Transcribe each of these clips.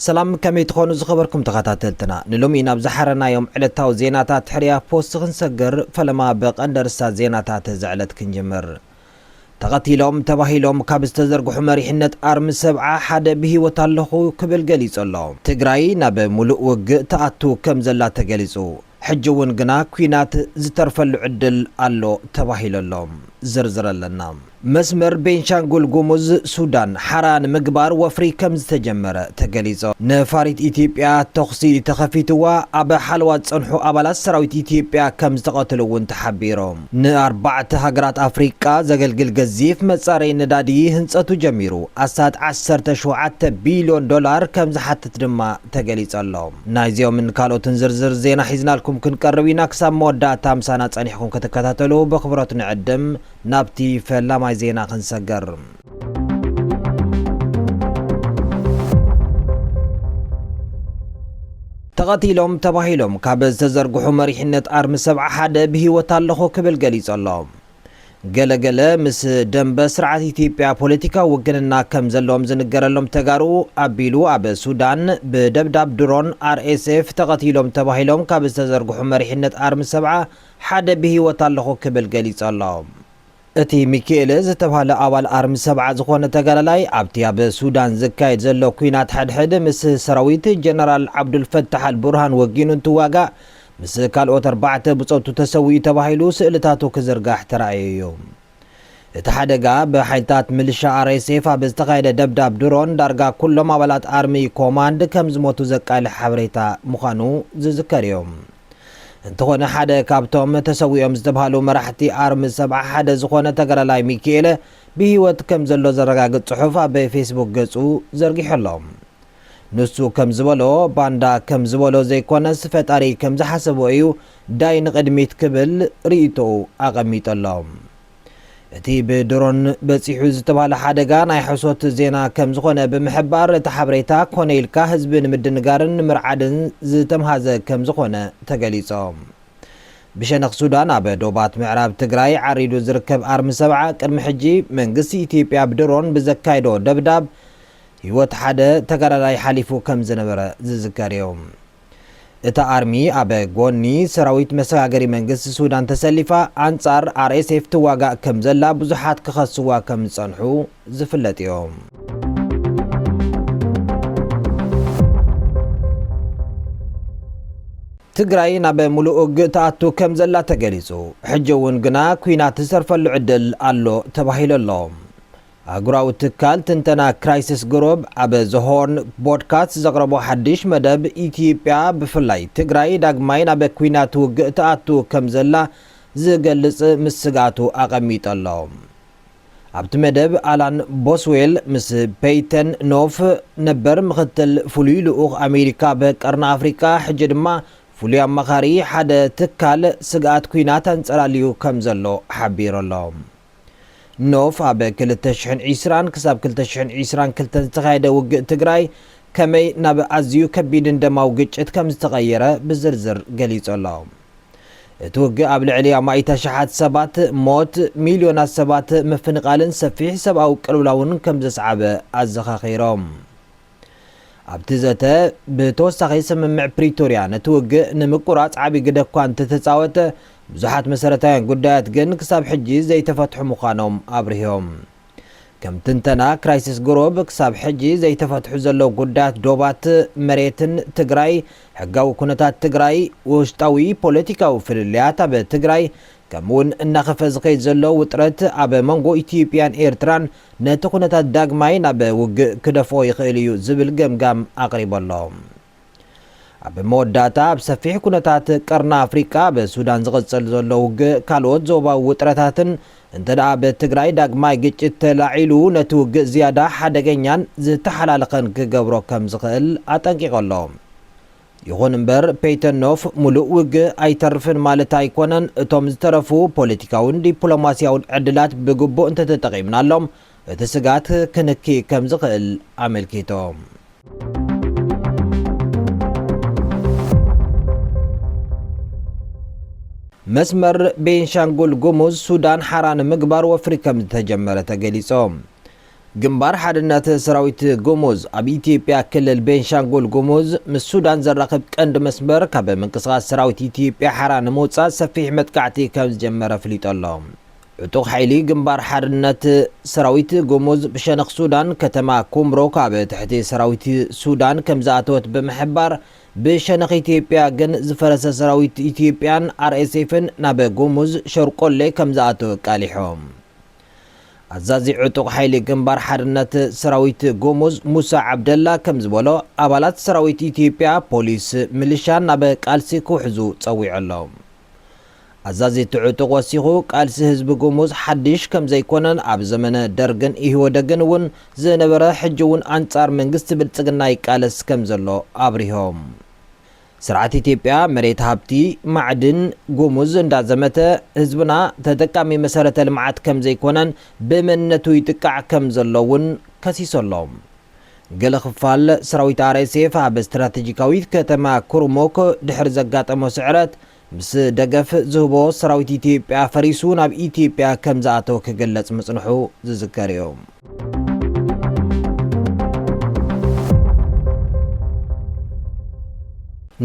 ሰላም ከመይ ትኾኑ ዝኸበርኩም ተኸታተልትና ንሎሚ ናብ ዝሓረናዮም ዕለታዊ ዜናታት ሕርያ ፖስት ክንሰግር ፈለማ ብቐንዲ ርስታት ዜናታት እዚ ዕለት ክንጅምር ተቐቲሎም ተባሂሎም ካብ ዝተዘርግሑ መሪሕነት ኣርሚ ሰብዓ ሓደ ብህይወት ኣለኹ ክብል ገሊጹ ኣሎ። ትግራይ ናብ ሙሉእ ውግእ ትኣቱ ከም ዘላ ተገሊጹ። ሕጂ እውን ግና ኲናት ዝተርፈሉ ዕድል ኣሎ ተባሂሉ ኣሎ። ዝርዝር ኣለና። መስመር ቤንሻንጉል ጉሙዝ፣ ሱዳን ሓራ ንምግባር ወፍሪ ከምዝተጀመረ ተገሊጹ። ነፋሪት ኢትዮጵያ ተኹሲ ተኸፊትዋ ኣብ ሓለዋ ዝጸንሑ ኣባላት ሰራዊት ኢትዮጵያ ከምዝተቐትሉ እውን ተሓቢሩ። ንኣርባዕተ ሃገራት ኣፍሪቃ ዘገልግል ገዚፍ መጻረዪ ነዳዲ ህንጸቱ ጀሚሩ ኣስታት ዓሰርተ ሸውዓተ ቢልዮን ዶላር ከምዝሓትት ድማ ተገሊጹ ኣሎ። ናይዚኦምን ካልኦትን ዝርዝር ዜና ሒዝናልኩም ክንቀርብ ኢና፣ ክሳብ መወዳእታ ምሳና ጸኒሕኩም ክትከታተሉ ብኣኽብሮት ንዕድም፣ ናብቲ ፈላማይ ዜና ክንሰግር። ተቐቲሎም ተባሂሎም ካብ ዝተዘርግሑ መሪሕነት ኣርሚ ሰብዓ ሓደ ብህይወት ኣለኹ ክብል ገሊጹ ኣሎ። ገለ ገለ ምስ ደምበ ስርዓት ኢትዮጵያ ፖለቲካዊ ውግንና ከም ዘለዎም ዝንገረሎም ተጋሩ ኣቢሉ ኣብ ሱዳን ብደብዳብ ድሮን RSF ተቐቲሎም ተባሂሎም ካብ ዝተዘርግሑ መሪሕነት ኣርሚ ሰብዓ ሓደ ብህይወት ኣለኹ ክብል ገሊጹ ኣሎ። እቲ ሚኪኤለ ዝተብሃለ ኣባል ኣርሚ ሰብዓ ዝኾነ ተጋዳላይ ኣብቲ ኣብ ሱዳን ዝካየድ ዘሎ ኲናት ሕድሕድ ምስ ሰራዊት ጀነራል ዓብዱልፈታሕ ኣልቡርሃን ወጊኑ እንትዋጋእ ምስ ካልኦት ኣርባዕተ ብጾቱ ተሰዊኡ ተባሂሉ ስእልታቱ ክዝርጋሕ ተራእዩ'ዩ። እቲ ሓደጋ ብሓይልታት ምልሻ RSF ኣብ ዝተኻየደ ደብዳብ ድሮን ዳርጋ ኩሎም ኣባላት ኣርሚ ኮማንድ ከምዝሞቱ ዘቃልሕ ሓበሬታ ምዃኑ ዝዝከር'ዩ። እንተኾነ ሓደ ካብቶም ተሰዊኦም ዝተብሃሉ መራሕቲ ኣርሚ ሰብዓ ሓደ ዝኾነ ተጋዳላይ ሚኪኤለ ብህይወት ከምዘሎ ዘረጋግጽ ጽሑፍ ኣብ ፌስቡክ ገጹ ዘርጊሑ ኣሎ። ንሱ ከም ዝበሎ ባንዳ ከም ዝበሎ ዘይኮነስ ፈጣሪ ከም ዝሓሰቦ እዩ ዳይ ንቕድሚት ክብል ሪኢቶኡ ኣቐሚጡ ኣሎ። እቲ ብድሮን በጺሑ ዝተባህለ ሓደጋ ናይ ሕሶት ዜና ከም ዝኾነ ብምሕባር እቲ ሓበሬታ ኮነ ኢልካ ህዝቢ ንምድንጋርን ንምርዓድን ዝተምሃዘ ከም ዝኾነ ተገሊጾ። ብሸነኽ ሱዳን ኣብ ዶባት ምዕራብ ትግራይ ዓሪዱ ዝርከብ ኣርሚ ሰብዓ ቅድሚ ሕጂ መንግስቲ ኢትዮጵያ ብድሮን ብዘካይዶ ደብዳብ ህይወት ሓደ ተጋዳላይ ሓሊፉ ከም ዝነበረ ዝዝከር እዩ። እታ ኣርሚ ኣብ ጎኒ ሰራዊት መሰጋገሪ መንግስቲ ሱዳን ተሰሊፋ ኣንጻር RSF ትዋጋእ ከም ዘላ ብዙሓት ክኸስዋ ከም ዝጸንሑ ዝፍለጥ እዩ። ትግራይ ናብ ሙሉእ ውግእ ትኣቱ ከም ዘላ ተገሊጹ፣ ሕጂ እውን ግና ኲናት ዝተርፈሉ ዕድል ኣሎ ተባሂሉ ኣሎ። ኣህጉራዊ ትካል ትንተና ክራይስስ ግሩብ ኣብ ዘ ሆርን ቦድካስት ዘቕረቦ ሓድሽ መደብ ኢትዮጵያ ብፍላይ ትግራይ ዳግማይ ናብ ኲናት ውግእ ትኣቱ ከም ዘላ ዝገልጽ ምስ ስግኣቱ ኣቐሚጡ ኣሎ። ኣብቲ መደብ ኣላን ቦስዌል ምስ ፐይተን ኖፍ ነበር ምኽትል ፍሉይ ልኡኽ ኣሜሪካ ኣብ ቀርኒ ኣፍሪቃ ሕጂ ድማ ፍሉይ ኣማኻሪ ሓደ ትካል ስግኣት ኲናት ኣንጸላልዩ ከም ዘሎ ሓቢሩ ኣሎ። ኖፍ ኣብ ክልተ ሽሕን ዒስራን ክሳብ ክልተ ሽሕን ዒስራን ክልተን ዝተኻየደ ውግእ ትግራይ ከመይ ናብ ኣዝዩ ከቢድን ደማዊ ግጭት ከም ዝተቐየረ ብዝርዝር ገሊጹ ኣሎ። እቲ ውግእ ኣብ ልዕሊ ኣማኢት ኣሽሓት ሰባት ሞት፣ ሚልዮናት ሰባት ምፍንቓልን ሰፊሕ ሰብኣዊ ቅልውላውን ከም ዘስዓበ ኣዘኻኺሮም። ኣብቲ ዘተ ብተወሳኺ ስምምዕ ፕሪቶርያ ነቲ ውግእ ንምቁራፅ ዓብዪ ግደ እኳ እንተተፃወተ ብዙሓት መሰረታውያን ጉዳያት ግን ክሳብ ሕጂ ዘይተፈትሑ ምዃኖም ኣብሪሆም። ከም ትንተና ክራይሲስ ግሩብ ክሳብ ሕጂ ዘይተፈትሑ ዘለዉ ጉዳያት ዶባት፣ መሬትን ትግራይ፣ ሕጋዊ ኩነታት ትግራይ፣ ውሽጣዊ ፖለቲካዊ ፍልልያት ኣብ ትግራይ፣ ከምኡ'ውን እናኸፍኣ ዝኸይድ ዘሎ ውጥረት ኣብ መንጎ ኢትዮጵያን ኤርትራን ነቲ ኩነታት ዳግማይ ናብ ውግእ ክደፍኦ ይኽእል እዩ ዝብል ገምጋም ኣቕሪቡ ኣሎ። ኣብ መወዳእታ፣ ኣብ ሰፊሕ ኩነታት ቀርኒ ኣፍሪቃ ኣብ ሱዳን ዝቕጽል ዘሎ ውግእ ካልኦት ዞባዊ ውጥረታትን እንተድኣ ኣብ ትግራይ ዳግማይ ግጭት ተላዒሉ ነቲ ውግእ ዝያዳ ሓደገኛን ዝተሓላለኸን ክገብሮ ከምዝኽእል ኣጠንቂቑ ኣሎ። ይኹን እምበር ፔይተን ኖፍ ሙሉእ ውግእ ኣይተርፍን ማለት ኣይኮነን፣ እቶም ዝተረፉ ፖለቲካውን ዲፕሎማሲያውን ዕድላት ብግቡእ እንተተጠቒምናሎም እቲ ስግኣት ክንኪ ከምዝኽእል ኣመልኪቶም። መስመር ቤንሻንጉል ጉሙዝ ሱዳን ሓራ ንምግባር ወፍሪ ከምዝተጀመረ ተገሊፆ። ግንባር ሓድነት ሰራዊት ጉሙዝ ኣብ ኢትዮጵያ ክልል ቤንሻንጉል ጉሙዝ ምስ ሱዳን ዘራኽብ ቀንዲ መስመር ካብ ምንቅስቓስ ሰራዊት ኢትዮጵያ ሓራ ንምውፃእ ሰፊሕ መጥቃዕቲ ከምዝጀመረ ኣፍሊጡ ኣሎ። ዕጡቕ ሓይሊ ግንባር ሓርነት ሰራዊት ጉሙዝ ብሸነኽ ሱዳን ከተማ ኩምሩክ ኣብ ትሕቲ ሰራዊት ሱዳን ከምዝኣተወት ብምሕባር ብሸነኽ ኢትዮጵያ ግን ዝፈረሰ ሰራዊት ኢትዮጵያን RSFን ናብ ጉሙዝ ሸርቆሌ ከምዝኣተወ ኣቃሊሖም። ኣዛዚ ዕጡቕ ሓይሊ ግንባር ሓርነት ሰራዊት ጉሙዝ ሙሳ ዓብደላ ከምዝበሎ፣ ኣባላት ሰራዊት ኢትዮጵያ፣ ፖሊስ፣ ምልሻን ናብ ቃልሲ ክውሕዙ ጸዊዑ ኣሎ። ኣዛዚ እቲ ዕጡቕ ወሲኹ፣ ቃልሲ ህዝቢ ጉሙዝ ሓድሽ ከምዘይኮነን ኣብ ዘመነ ደርግን ኢህወደግን እውን ዝነበረ ሕጂ'ውን ኣንጻር መንግስቲ ብልጽግና ይቃለስ ከምዘሎ ኣብሪሆም። ስርዓት ኢትዮጵያ መሬት ሃብቲ ማዕድን ጉሙዝ እንዳዘመተ ህዝብና ተጠቃሚ መሰረተ ልምዓት ከምዘይኮነን ብመንነቱ ይጥቃዕ ከምዘሎ እውን ከሲሱ ኣሎ። ገለ ክፋል ሰራዊት RSF ኣብ ስትራቴጂካዊት ከተማ ኩርሙክ ድሕሪ ዘጋጠሞ ስዕረት ምስ ደገፍ ዝህቦ ሰራዊት ኢትዮጵያ ፈሪሱ ናብ ኢትዮጵያ ከምዝኣተወ ክግለጽ ምጽንሑ ዝዝከር'ዩ።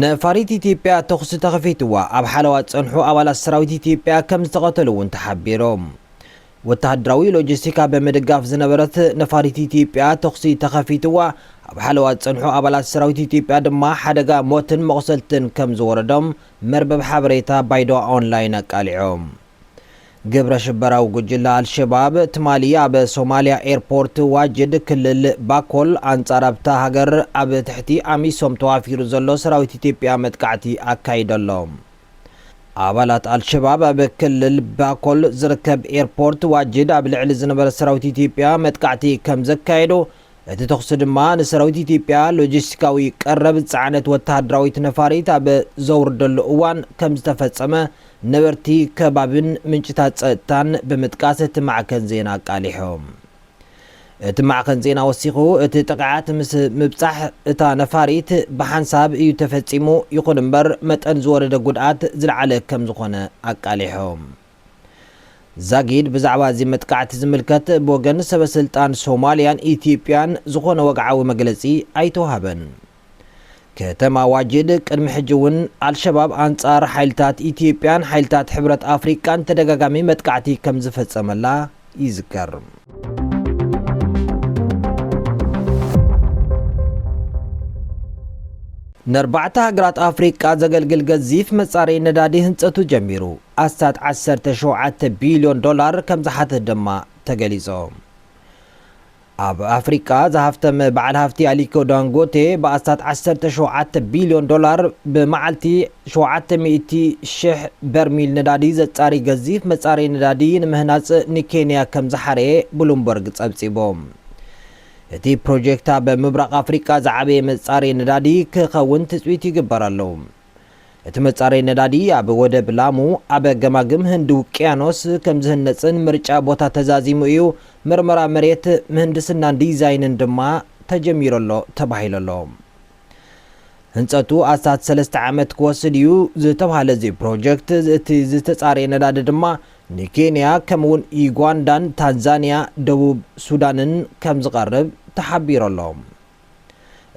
ነፋሪት ኢትዮጵያ ተኹሲ ተኸፊትዋ ኣብ ሓለዋ ዝጸንሑ ኣባላት ሰራዊት ኢትዮጵያ ከምዝተቐተሉ'ውን ተሓቢሩ። ወተሃደራዊ ሎጂስቲካ ብምድጋፍ ዝነበረት ነፋሪት ኢትዮጵያ ተኹሲ ተኸፊትዋ፣ ኣብ ሓለዋ ዝጸንሑ ኣባላት ሰራዊት ኢትዮጵያ ድማ ሓደጋ ሞትን መቑሰልትን ከም ዝወረዶም መርበብ ሓበሬታ ባይዶዋ ኦንላይን ኣቃሊዑ። ግብረ ሽበራዊ ጉጅለ ኣልሸባብ ትማሊ ኣብ ሶማልያ ኤርፖርት ዋጅድ ክልል ባኮል ኣንጻር ኣብታ ሃገር ኣብ ትሕቲ ኣሚሶም ተዋፊሩ ዘሎ ሰራዊት ኢትዮጵያ መጥቃዕቲ ኣካይዱ ኣሎ። ኣባላት ኣልሸባብ ኣብ ክልል ባኮል ዝርከብ ኤርፖርት ዋጅድ ኣብ ልዕሊ ዝነበረ ሰራዊት ኢትዮጵያ መጥቃዕቲ ከምዘካየዱ፣ እቲ ተኹሲ ድማ ንሰራዊት ኢትዮጵያ ሎጂስቲካዊ ቀረብ ዝጸዓነት ወተሃደራዊት ነፋሪት ኣብ ዘውርደሉ እዋን ከምዝተፈጸመ ነበርቲ ከባቢን ምንጭታት ጸጥታን ብምጥቃስ እቲ ማዕከን ዜና ኣቃሊሑ። እቲ ማዕኸን ዜና ወሲኹ፣ እቲ ጥቕዓት ምስ ምብጻሕ እታ ነፋሪት ብሓንሳብ እዩ ተፈጺሙ፣ ይኹን እምበር መጠን ዝወረደ ጉድኣት ዝለዓለ ከም ዝኾነ ኣቃሊሑ። ዛጊድ ብዛዕባ እዚ መጥቃዕቲ ዝምልከት ብወገን ሰበስልጣን ሶማልያን ኢትዮጵያን ዝኾነ ወግዓዊ መግለጺ ኣይተውሃበን። ከተማ ዋጅድ ቅድሚ ሕጂ እውን ኣልሸባብ ኣንጻር ሓይልታት ኢትዮጵያን ሓይልታት ሕብረት ኣፍሪቃን ተደጋጋሚ መጥቃዕቲ ከም ዝፈጸመላ ይዝከር። ነርባዕተ ሃገራት ኣፍሪቃ ዘገልግል ገዚፍ መጻረዪ ነዳዲ ህንጸቱ ጀሚሩ ኣስታት ዓሰርተ ሸውዓተ ቢልዮን ዶላር ከም ዝሓትት ድማ ተገሊጾ። ኣብ ኣፍሪቃ ዝሃፍተመ በዓል ሃፍቲ ኣሊኮ ዳንጎቴ ብኣስታት ዓሰርተ ሸውዓተ ቢልዮን ዶላር ብመዓልቲ ሸውዓተ ሚእቲ ሽሕ በርሚል ነዳዲ ዘጻሪ ገዚፍ መጻረዪ ነዳዲ ንምህናጽ ንኬንያ ከም ዝሓረየ ብሉምበርግ ጸብጺቡ። እቲ ፕሮጀክት ኣብ ምብራቕ ኣፍሪቃ ዝዓበየ መጻረዪ ነዳዲ ክኸውን ትጽቢት ይግበረሉ። እቲ መጻረይ ነዳዲ ኣብ ወደብ ላሙ ኣብ ገማግም ህንዲ ውቅያኖስ ከም ዝህነጽን ምርጫ ቦታ ተዛዚሙ እዩ፣ ምርመራ መሬት፣ ምህንድስናን ዲዛይንን ድማ ተጀሚሩ ኣሎ ተባሂሉ ኣሎ። ህንጸቱ ኣስታት ሰለስተ ዓመት ክወስድ እዩ ዝተብሃለ እዚ ፕሮጀክት እቲ ዝተጻረየ ነዳዲ ድማ ንኬንያ ከምኡ'ውን ዩጋንዳን ታንዛንያ ደቡብ ሱዳንን ከም ዝቐርብ ተሓቢሩ ኣሎ።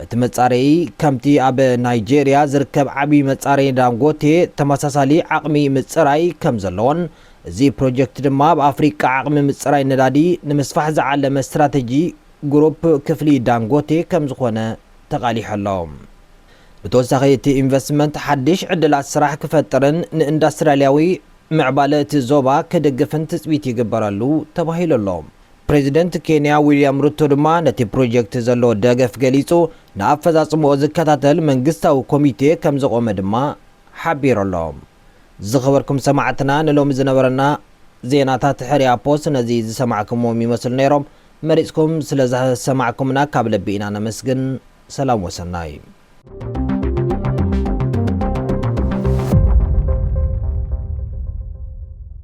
እቲ መጻረዪ ከምቲ ኣብ ናይጀርያ ዝርከብ ዓብዪ መጻረዪ ዳንጎቴ ተመሳሳሊ ዓቕሚ ምጽራይ ከም ዘለዎን እዚ ፕሮጀክት ድማ ኣብ ኣፍሪቃ ዓቕሚ ምጽራይ ነዳዲ ንምስፋሕ ዝዓለመ ስትራተጂ ግሩፕ ክፍሊ ዳንጎቴ ከም ዝኾነ ተቓሊሑ ኣሎ። ብተወሳኺ እቲ ኢንቨስትመንት ሓድሽ ዕድላት ስራሕ ክፈጥርን ንኢንዳስትርያልያዊ ምዕባለ እቲ ዞባ ክድግፍን ትጽቢት ይግበረሉ ተባሂሉ ኣሎ። ፕሬዚደንት ኬንያ ዊልያም ሩቶ ድማ ነቲ ፕሮጀክት ዘለዎ ደገፍ ገሊፁ፣ ንኣፈፃፅምኡ ዝከታተል መንግስታዊ ኮሚቴ ከምዝቖመ ድማ ሓቢሩ ኣሎ። ዝኸበርኩም ሰማዕትና ንሎሚ ዝነበረና ዜናታት ሕርያ ፖስት ነዚ ዝሰማዕክምዎም ይመስሉ ነይሮም። መሪፅኩም ስለዝሰማዕኩምና ካብ ልቢ ኢና ነመስግን። ሰላም ወሰናይ።